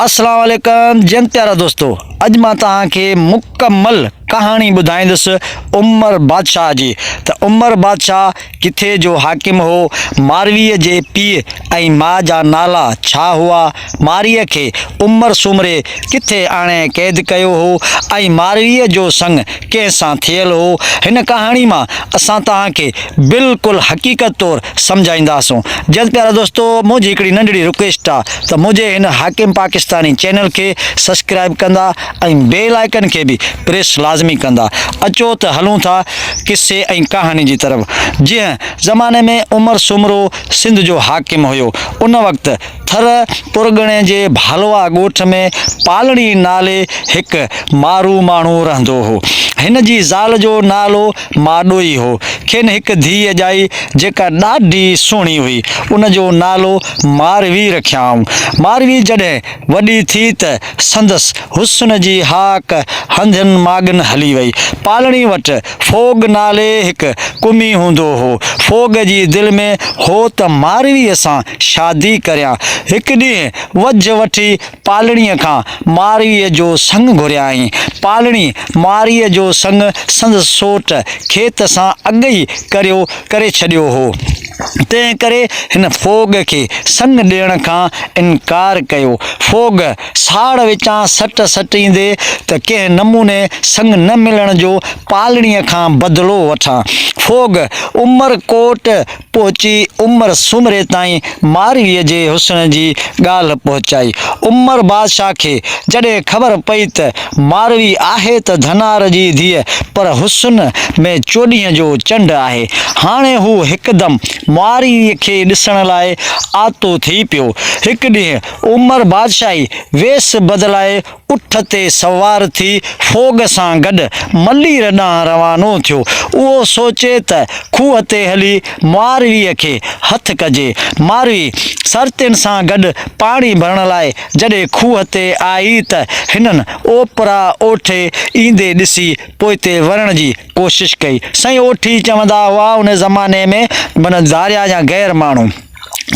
اسلام عليڪم جيئن پيارا دوستو اڄ مان توهان کي مڪمل ڪهاڻي ٻڌائيندس عمر بادشاهه جي ته عمر بادشاهه ڪٿي جو حاڪم هو ماروي جي پيء ۽ ماء جا نالا ڇا هئا مارئي کي عمر سومري ڪٿي آڻي قيد ڪيو هو ۽ ماروي جو سڱ ڪنهن سان ٿيل هو، هن ڪهاڻي مان اسان توهان کي بلڪل حقيقت طور سمجهائينداسون. جد پيارا دوستو منهنجي هڪڙي ننڍڙي رڪويسٽ آ ته منهنجي هن حاڪم پاڪستاني چينل کي سسڪرائب ڪندا ۽ بيل آئيڪن کي به پريس لازمي ڪندا. اچو ته هلون ٿا قصي ۽ ڪهاڻي جي طرف. جنهن زماني ۾ عمر سومرو سنڌ جو حاڪم هيو ان وقت ٿر پرڳڻي جي ڀالوا ڳوٺ ۾ پالڻي نالي هڪ مارو ماڻهو رهندو هو. هن جي زال جو نالو ماڏوئي هو. کين هڪ ڌيء ڄائي جيڪا ڏاڍي سهڻي هئي. ان جو نالو ماروي رکيائون. ماروي جڏهن وڏي ٿي ته سندس حسن جي هاڪ هنڌين ماڳن هلي وئي. پالڻي وٽ ڦوڳ نالي هڪ قمي هوندو هو. ڦوڳ جي دل ۾ هو ته مارويء سان شادي ڪريان. هڪ ڏينهن وجهه وٺي پالڻيء کان مارويء جو سڱ گهريائين. پالڻي مارويء جو سڱ سندس سوٽ کيت سان اڳ ئي ڪريو ڪري ڇڏيو هو. تنهنڪري هن ڦوڳ کي سڱ ڏيڻ کان انڪار ڪيو. ڦوڳ. ساڙ وچان سٽ سٽيندي ته ڪنهن نموني سڱ نه ملڻ جو پالڻيء کان بدلو وٺان. فوڳ عمر ڪوٽ پهچي عمر سومري تائين مارويء جي حسن جي ڳالهه پهچائي. عمر بادشاهه کي جڏهن خبر پئي ته ماروي آهي ته ڌنار جي ڌيء پر حسن ۾ چوڏهينء جو چنڊ آهي. هاڻي هو هڪدم مارويء کي ڏسڻ لاء آتو ٿي پيو. هڪ ڏينهن عمر بادشاهي ويس بدلائي اٺ تي سوار ٿي فوڳ سان گڏ ملير ڏانهن روانو ٿيو. اهو سوچي ته کوهه تي هلي مارويء کي هٿ ڪجي. ماروي سرتين سان گڏ پاڻي ڀرڻ لاء جڏهن کوهه تي آئي ته هنن اوپرا اوٺي ايندي ڏسي پوئتي ورڻ جي ڪوشش ڪئي. سائين اوٺي چوندا هئا ان زماني ۾ معنيٰ ڌاريا يا غير ماڻهو.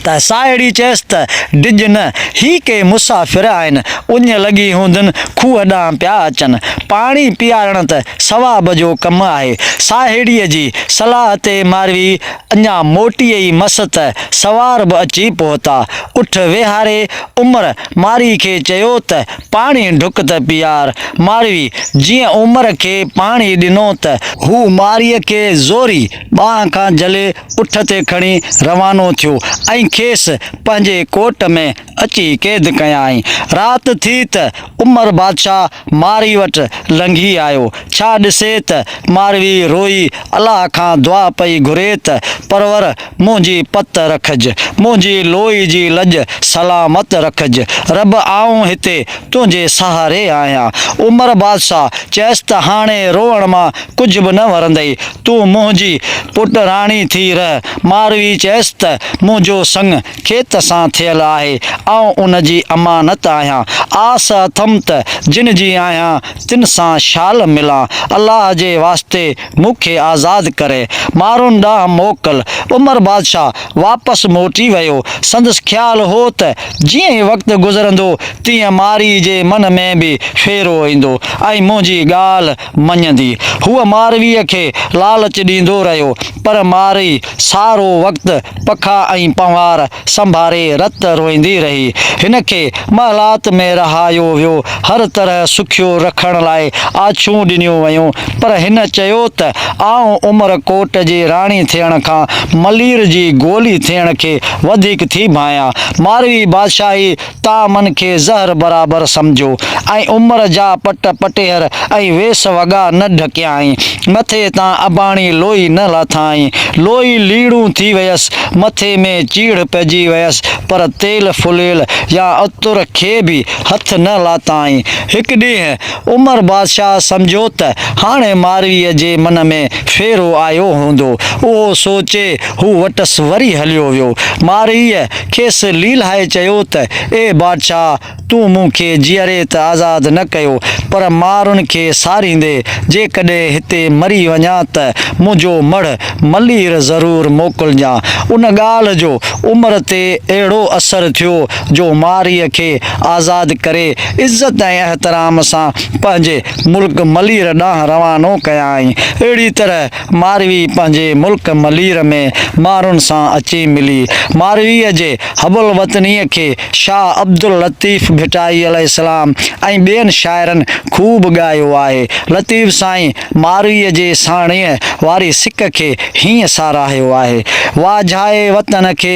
ته ساهيڙي چيس ته، ڊڄ نه، هي ڪي مسافر آهن، اڃ لڳي هوندن، کوهه ڏانهن پيا اچن، پاڻي پيارڻ ته ثواب جو ڪم آهي. ساهيڙيء جي صلاح تي ماروي اڃا موٽي ئي مس ته سوار به اچي پهتا. اٺ ويهاري عمر مارئي کي چيو ته، پاڻي ڍڪ ته پيار. ماروي جيئن عمر کي پاڻي ڏنو ته. هو مارئي کي زوري ٻانهن کان جهلي اٺ تي کڻي روانو ٿيو ۽ کيس پنهنجي ڪوٽ ۾ اچي قيد ڪيائين. رات ٿي ته عمر بادشاهه مارئي وٽ لنگهي آيو. ڇا ڏسي ته مارئي روئي الله کان دعا پئي گهري ته پرور منهنجي پت رکج، منهنجي لوئي جي لڄ سلامت رکج. رب آئون هتي تنهنجي سهاري آهيان. عمر بادشاهه چيس ته هاڻي روئڻ مان ڪجهه به نه ورندئي، تون منهنجي پٽ راڻي ٿي رهه. ماروي چيس ته، منهنجو سڱ کيت سان ٿيل آهي، آئون ان جي امانت آهيان. آس اٿم ته جن جي آهيان، تن سان شال ملان. الله جي واسطي مون کي آزاد ڪري، مارون ڏانهن موڪل. عمر بادشاهه واپس موٽي ويو. سندس خيال هو ته جيئن ئي وقت گذرندو، تيئن ماري جي من ۾ به ڦيرو ايندو ۽ منهنجي ڳالهه، مڃيندي، هوء مارويء کي لالچ ڏيندو رهيو، پر ماروي سارو وقت پکا ۽ پنهوار سنڀاري رت روئيندي رهي. هن کي محلات ۾ رهايو ويو، هر طرح سکيو رکڻ لاء آڇون ڏنيون ويون، پر هن چيو ته آئون عمر ڪوٽ جي راڻي ٿيڻ کان ملير جي گولي ٿيڻ کي وڌيڪ ٿي ڀانئيان. ماروي بادشاهي تان من کي زهر برابر سمجهو ۽ عمر جا پٽ پٽيهر ۽ ويس وڳا نه ڍڪيائين، مٿي تان اباڻي لوئي نه لاٿائين، لوئي ليڙون ٿي ويس، مٿي ۾ چيڙهه پئجي ويس، پر تيل ڦليل يا عطر کي به هٿ نه لاتائين، هڪ ڏينهن عمر بادشاهه سمجهيو ته هاڻي مارويء جي من ۾ ڦيرو آيو هوندو. اهو سوچي هو وٽس وري هليو ويو. مارويء کيس ليلهائي چيو ته، اي بادشاهه! تون مون کي جيئري ته آزاد نه ڪيو، پر مارن کي ساريندي جيڪڏهن هتي مري وڃان ته منهنجو مڙهه ملير ضرور موڪلجان. ان ڳالهه جو عمر تي اهڙو اثر ٿيو جو مارئيء کي آزاد ڪري عزت ۽ احترام سان پنهنجي ملڪ ملير ڏانهن روانو ڪيائين. اهڙي طرح مارئي پنهنجي ملڪ ملير ۾ مارن سان اچي ملي. مارئيء جي حب الوطنيء کي شاهه عبداللطيف ڀٽائي عليه السلام ۽ ٻين شاعرن خوب ڳايو آهي. لطيف سائين مارئيء جي ساڻيهه واري سڪ کي هيئن ساراهيو آهي، واجهائي وطن کي،